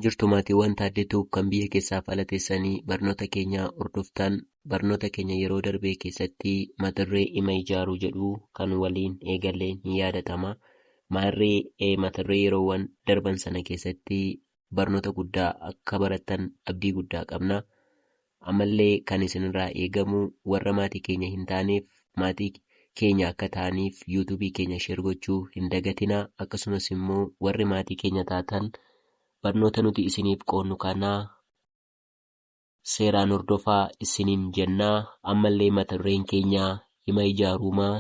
Jirtu maatiiwwan Taaddee Tube kan biyya keessaaf ala teessanii barnoota keenya hordoftan, barnoota keenya yeroo darbee keessatti mataduree ima ijaaruu jedhu kan waliin eegalleen ni yaadatama. Maarree mataduree yeroowwan darban sana keessatti barnoota guddaa akka barattan abdii guddaa qabna. Ammallee kan isinirraa eegamu warra maatii keenya hin taaneef maatii keenya akka ta'aniif youtube keenya share gochuu hin dagatinaa akkasumas immoo warri maatii keenya taatan barnoota nuti isiniif qoodnu kana seeraan hordofaa issiniin jennaa ammallee mata dureen keenya hima ijaaruumaa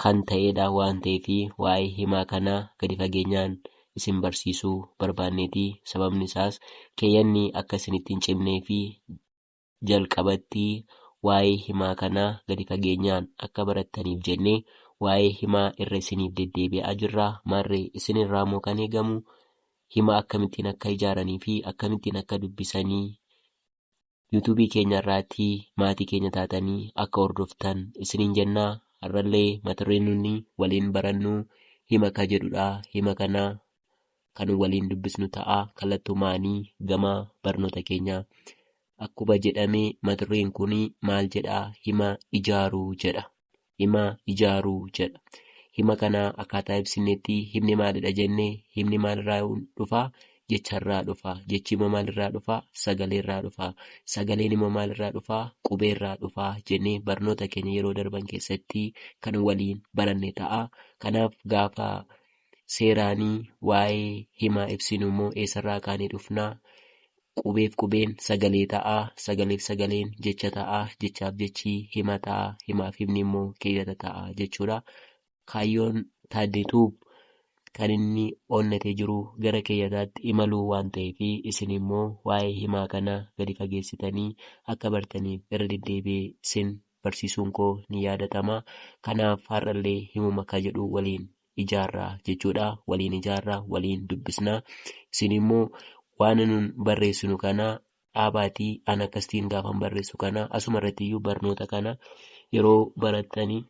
kan ta'eedha waan ta'eef waa'ee himaa kanaa gadi fageenyaan isin barsiisuu barbaanneeti. Sababni isaas keeyyanni akka isinitti hin cimnee fi jalqabatti waa'ee himaa kanaa gadi fageenyaan akka barattaniif jennee waa'ee himaa irra isiniif deddeebi'aa jirra. Maarree isin irraa moo kan eegamu hima akkamittiin akka ijaaranii fi akkamittiin akka dubbisanii Yuutuubii keenya irraatti maatii keenya taatanii akka hordoftan isiniin jenna. Har'allee mata dureen nunni waliin barannu hima ka jedhudha. Hima kana kan waliin dubbisnu ta'a. Kallattumaanii gama barnoota keenya. Akkuma jedhame mata dureen kun maal jedha? Hima ijaaruu jedha. hima ijaaru jedha. Hima kana akkaataa ibsinnetti himni maalidha jenne himni maalirraa dhufa? Jecharraa dhufa. Jechi immoo maalirraa dhufa? Sagaleerraa dhufa. Sagaleen immoo maalirraa dhufa? Qubeerraa dhufa jennee barnoota keenya yeroo darban keessatti kan waliin baranne ta'a. Kanaaf gaafa seeraanii waa'ee himaa ibsinu immoo eessarraa kaanee dhufna? Qubeef qubeen sagalee ta'a, sagaleef sagaleen jecha ta'a, jechaaf jechi hima ta'a, himaaf himni immoo keeyyata ta'a jechuudha. Kaayyoon Taaddee Tuub kan inni onnatee jiru gara keeyyataatti imaluu waan ta'eef isin immoo waa'ee himaa kana gadi fageessitanii akka bartaniif irra deddeebi'ee isin barsiisuun koo ni yaadatama. Kanaaf har'allee himuma ka jedhu waliin ijaarraa jechuudha. Waliin ijaarraa, waliin dubbisnaa. Isin immoo waan nun barreessinu kana dhaabaatii an akkasitiin gaafan barreessu kana asuma irratti iyyuu barnoota kana yeroo barattanii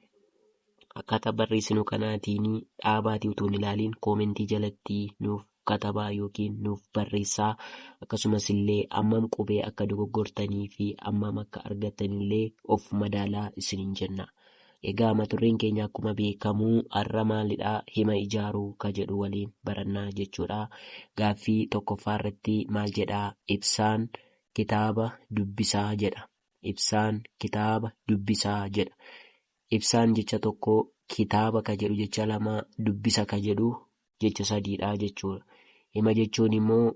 akkaataa barreessinu kanaatiin dhaabaatii utuu hin ilaaliin koomentii jalatti nuuf katabaa yookiin nuuf barreessaa akkasumas illee ammam qubee akka dogoggortanii fi ammam akka argattan illee of madaalaa isiniin jenna. Egaa maturreen keenya akkuma beekamu har'a maalidha hima ijaaruu ka jedhu waliin barannaa jechuudha. Gaaffii tokkoffaa irratti maal jedha ibsaan kitaaba dubbisaa jedha. Ibsaan kitaaba dubbisaa jedha. Ibsaan jecha tokko kitaaba ka jedhu jecha lama dubbisa ka jedhu jecha sadiidha jechuudha. Hima jechuun immoo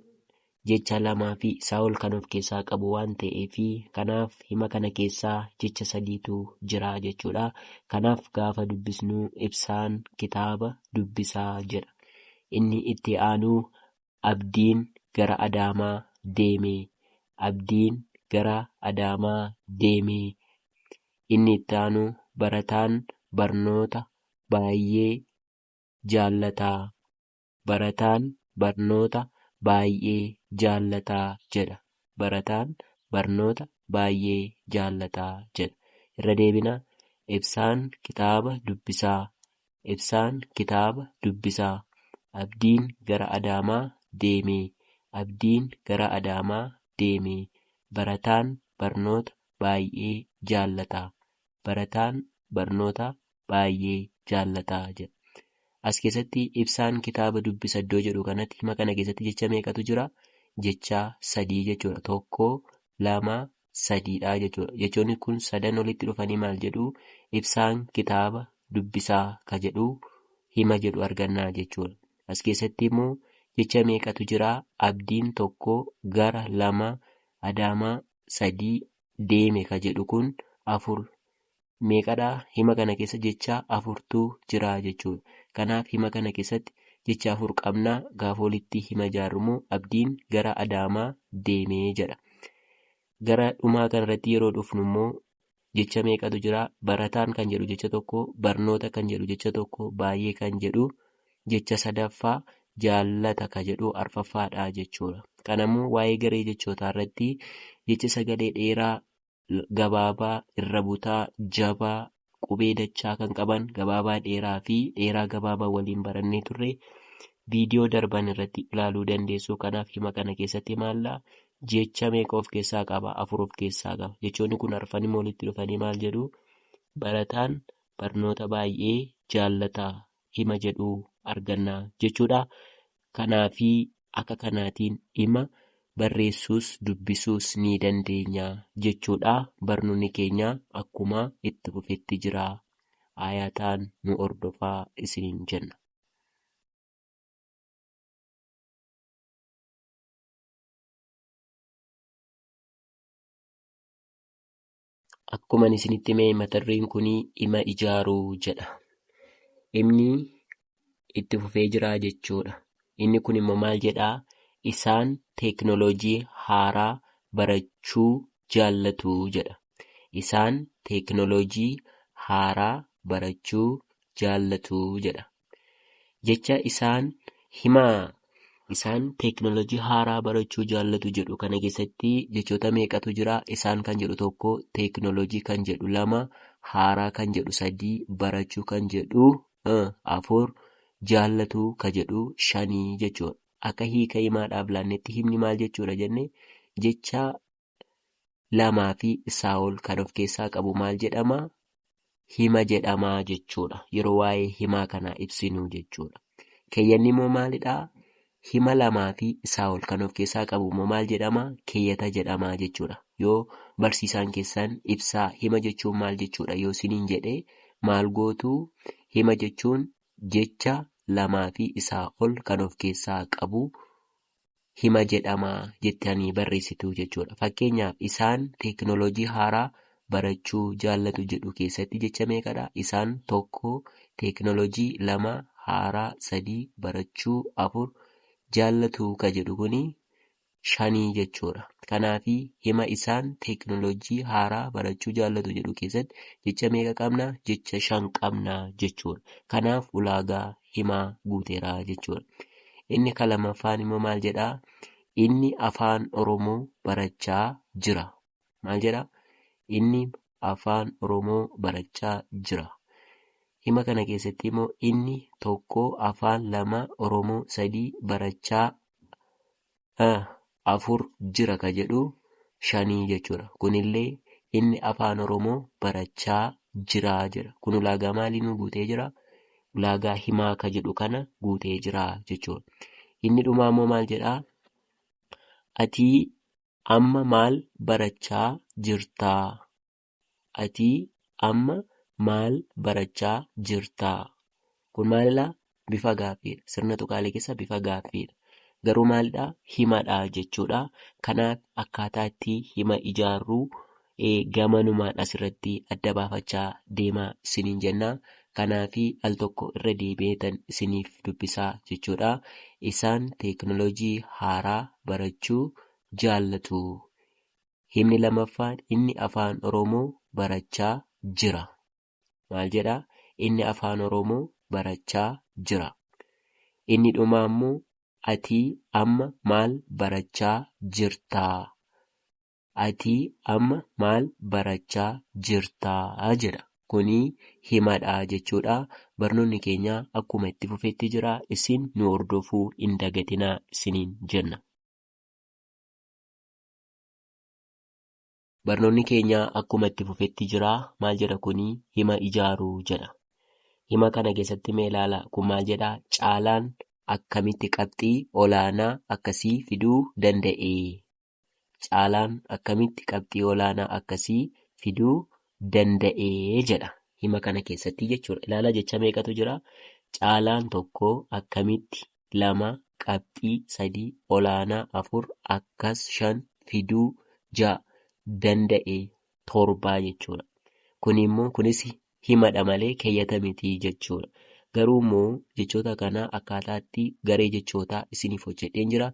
jecha lamaa fi isaa ol kan of keessaa qabu waan ta'eef kanaaf hima kana keessaa jecha sadiitu jira jechuudha. Kanaaf gaafa dubbisnu ibsaan kitaaba dubbisaa jedha. Inni itti aanu abdiin gara adaamaa deeme. Abdiin gara adaamaa deeme. Inni itti aanu barataan barnoota baay'ee jaallataa? Barataan barnoota baay'ee jaallataa jedha. Barataan barnoota baay'ee jaallataa jedha. Irra deebinaa, Ibsaan kitaaba dubbisaa. Ibsaan kitaaba dubbisaa. Abdiin gara Adaamaa deeme. Abdiin gara Adaamaa deeme. Barataan barnoota baay'ee jaallata. Barataan barnoota baay'ee jaallata jedha. As keessatti ibsaan kitaaba dubbisa iddoo jedhu kanatti hima kana keessatti jecha meeqatu jira? Jecha sadii jechuudha. Tokko, lama, sadiidha jechuudha. Jechoonni kun sadan walitti dhufanii maal jedhu? Ibsaan kitaaba dubbisaa ka jedhu hima jedhu argannaa jechuudha. As keessatti immoo jecha meeqatu jira? Abdiin tokko, gara lama, adaamaa sadii, deeme ka jedhu kun afur meeqadha? Hima kana keessa jecha afurtu jira jechuudha. Kanaaf hima kana keessatti jecha afur qabna. Gaafa walitti hima ijaarru immoo Abdiin gara Adaamaa deeme jedha. Gara dhumaa kanarratti yeroo dhufnu immoo jecha meeqatu jira? Barataan kan jedhu jecha tokko, barnoota kan jedhu jecha tokko, baay'ee kan jedhu jecha sadaffaa, jaallata kan jedhu arfaffaadha jechuudha. Kanammoo waa'ee garee jechootaa irratti jecha sagalee dheeraa gabaabaa, irra butaa, jabaa, qubee dachaa kan qaban, gabaabaa dheeraa fi dheeraa gabaabaa waliin barannee turre. Viidiyoo darban irratti ilaaluu dandeessu. Kanaaf hima kana keessatti maalla jecha meeqa of keessaa qaba? Afur of keessaa qaba. Jechoonni kun arfan immoo walitti dhufanii maal jedhu? Barataan barnoota baay'ee jaallata hima jedhu arganna jechuudha. Kanaafi akka kanaatiin hima barreessuus dubbisuus ni dandeenya jechuudha. Barnoonni keenya akkuma itti fufetti jira. Ayataan nu hordofaa isiniin jenna. Akkuman isinitti hime mata dureen kun dhima ijaaruu jedha. Dhimni itti fufee jira jechuudha. Inni kun immoo maal jedhaa? Isaan teeknooloojii haaraa barachuu jaallatu jedha. Isaan teeknooloojii haaraa barachuu jaallatu jedha. Jecha isaan himaa. Isaan teeknolojii haaraa barachuu jaallatu jedhu kana keessatti jechoota meeqatu jira? Isaan kan jedhu tokko, teeknolojii kan jedhu lama, haaraa kan jedhu sadii, barachuu kan jedhu afur, jaallatu ka jedhu shanii jechuudha. Akka hiika himaa dhaablaannetti himni maal jechuudha jenne jecha lamaa fi isaa ol kan of keessaa qabu maal jedhama? Hima jedhama jechuudha. Yeroo waa'ee himaa kanaa ibsinu jechuudha. Keeyyanni immoo maalidha? Hima lamaa fi isaa ol kan of keessaa qabu immoo maal jedhama? Keeyyata jedhama jechuudha. Yoo barsiisaan keessan ibsaa hima jechuun maal jechuudha yoo siniin jedhe maal gootu? Hima jechuun jecha lamaa fi isaa ol kan of keessaa qabu hima jedhama jettanii barreessitu jechuudha. Fakkeenyaaf isaan teekinooloojii haaraa barachuu jaallatu jedhu keessatti jecha meeqadha? Isaan tokko teekinooloojii lama haaraa sadii barachuu afur jaallatu ka jedhu kuni shanii jechuudha. Kanaaf hima isaan teekinooloojii haaraa barachuu jaallatu jedhu keessatti jecha meeqa qabna? Jecha shan qabna jechuudha. Kanaaf ulaagaa himaa guuteera jechuudha. Inni ka lammaffaan immoo maal jedha? Inni afaan Oromoo barachaa jira. Maal jedha? Inni afaan Oromoo barachaa jira. Hima kana keessatti immoo inni tokko afaan lama Oromoo sadii barachaa afur jira ka jedhu shanii jechuudha. Kunillee inni afaan Oromoo barachaa jira jedha. Kun ulaagaa maalii nuu guutee jira? Ulaagaa himaa ka jedhu kana guutee jira jechuudha. Inni dhumaa immoo maal jedhaa? Atii amma maal barachaa jirtaa? Atii amma maal barachaa jirtaa? Kun maalidha? Bifa gaaffiidha. Sirna tuqaalee keessa bifa gaaffiidha. Garuu maalidha? Himadha jechuudha. Kanaaf akkaataa itti hima ijaarru gamanumaan asirratti adda baafachaa deemaa isiniin jenna. Kanaaf al tokko irra deebi'eetan isiniif dubbisaa jechuudha. Isaan teeknolojii haaraa barachuu jaallatu. Himni lamaffaan inni Afaan Oromoo barachaa jira. Maal jedha? Inni Afaan Oromoo barachaa jira. Inni dhumaa immoo Atii amma maal barachaa jirtaa? Atii amma maal barachaa jirtaa? jedha. Kuni himadha jechuudha. Barnoonni keenya akkuma itti fufetti jira. Isin nu hordofuu hin dagatinaa isiniin jenna. Barnoonni keenya akkuma itti fufetti jira. Maal jedha kuni? Hima ijaaru jedha. Hima kana keessatti mee ilaala. Kun maal jedha? Caalaan akkamitti qabxii olaanaa akkasii fiduu danda'e? Caalaan akkamitti qabxii olaanaa akkasii fiduu danda'e jedha. Hima kana keessatti jechuudha. Ilaala jecha meeqatu jira? Caalaan tokko akkamitti 2, qabxii 3, olaanaa 4, akkas 5, fiduu 6, danda'e 7 jechuudha. Kun immoo kunis himadha malee keeyyata miti jechuudha. Garuu immoo jechoota kana akkaataatti garee jechootaa isiniif hojjedheen jira.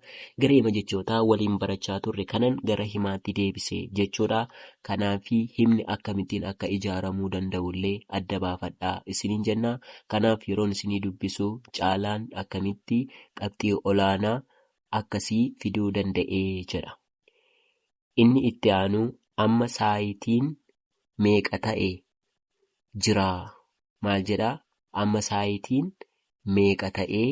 Garee hima jechootaa waliin barachaa turre kanan gara himaatti deebise jechuudha. Kanaaf himni akkamittiin akka ijaaramuu danda'u illee adda baafadhaa isiniin jenna. Kanaaf yeroon isinii dubbisu Caalaan akkamitti qabxii olaanaa akkasii fiduu danda'e jedha. Inni itti aanu amma saayitiin meeqa ta'e jira maal jedha? Amma saayitiin meeqa ta'ee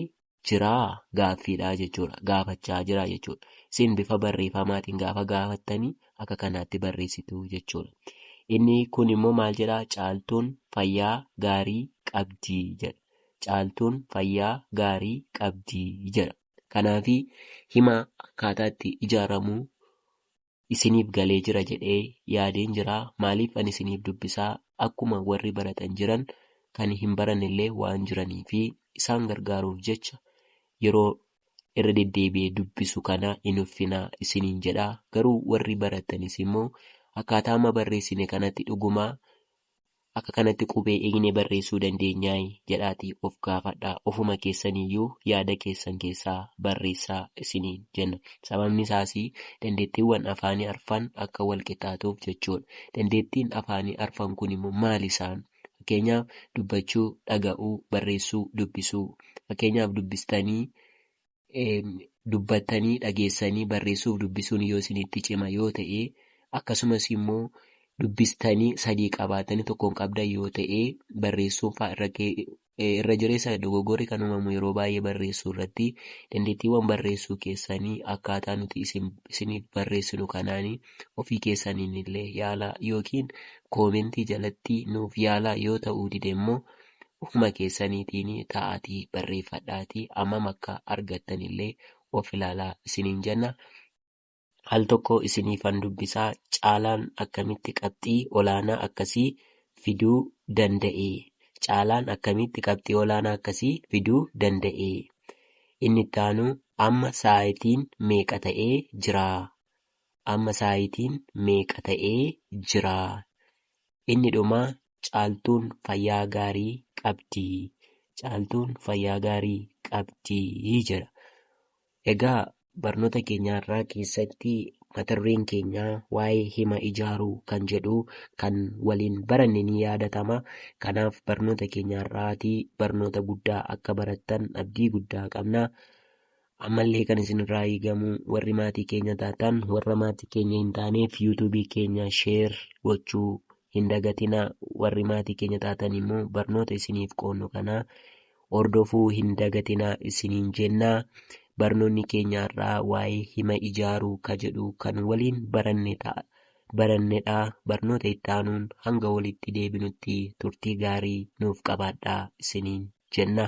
jiraa gaaffiidhaa jechuudha. Gaafachaa jiraa jechuudha. Isin bifa barreeffamaatiin gaafa gaafattanii akka kanaatti barreessitu jechuudha. Inni kun immoo maal jedhaa caaltuun fayyaa gaarii qabdii jedha. Caaltuun fayyaa gaarii qabdii jedha. Kanaafi hima akkaataa itti ijaaramu isiniif galee jira jedhee yaadeen jira maaliif ani isiniif dubbisaa akkuma warri baratan jiran kan hin barannellee waan jiranii fi isaan gargaaruuf jecha yeroo irra deddeebi'ee dubbisu kana hin uffinaa isiniin jedha garuu warri barattanis immoo akkaataa amma barreessine kanatti dhuguma Akka kanatti qubee eegnee barreessuu dandeenyaay? jedhaatii of gaafadhaa. Ofuma keessaniiyyuu yaada keessan keessaa barreessaa isiniin jenna. Sababni isaas, dandeettiiwwan afaanii arfan akka wal qixxaatuuf jechuudha. Dandeettiin afaanii arfan kun immoo maali isaan? Fakkeenyaaf, dubbachuu, dhaga'uu, barreessuu, dubbisuu. Fakkeenyaaf, dubbistanii dubbattanii dhageessanii barreessuuf dubbisuun yoo isinitti cima yoo ta'e akkasumas immoo dubbistanii sadii qabaatanii tokkoon qabdan yoo ta'e barreessuun faa irra kee- eh, irra jireessa dogoggorri kan uumamu yeroo baay'ee barreessuu irratti dandeettiiwwan barreessuu keessanii akkaataa nuti isin isiniif barreessinu kanaanii ofii keessaniin illee yaalaa yookiin koomentii jalatti nuuf yaalaa yoo ta'uu dide immoo ufuma keessaniitiin ta'aatii barreeffadhaatii ammam akka argattan illee of ilaalaa isiniin jenna. Al tokko isiniifan dubbisa, Caalaan akkamitti qabxii olaanaa akkasii fiduu danda'e? Caalaan akkamitti qabxii olaanaa akkasii fiduu danda'e? Inni itti aanu, Amma sa'aatiin meeqa ta'ee jira? Amma sa'aatiin meeqa ta'ee jira? Inni dhumaa Caaltuun fayyaa gaarii qabdi Caaltuun fayyaa gaarii qabdi jedha. Egaa barnoota keenya har'aa keessatti mata dureen keenya waa'ee hima ijaaruu kan jedhu kan waliin baranne ni yaadatama. Kanaaf barnoota keenya har'aatii barnoota guddaa akka barattan abdii guddaa qabna. Ammallee kan isinirraa eegamu warri maatii keenya taatan warra maatii keenya hin taaneef yuutuubii keenya sheer gochuu hin dagatina. Warri maatii keenya taatan immoo barnoota isiniif qoodnu kana hordofuu hin dagatina isiniin jenna. Barnoonni keenya har'aa waa'ee hima ijaaruu ka jedhu kan waliin baranne ta'a. barannedha. Barnoota itti aanuun hanga walitti deebinutti turtii gaarii nuuf qabaadhaa isiniin jenna.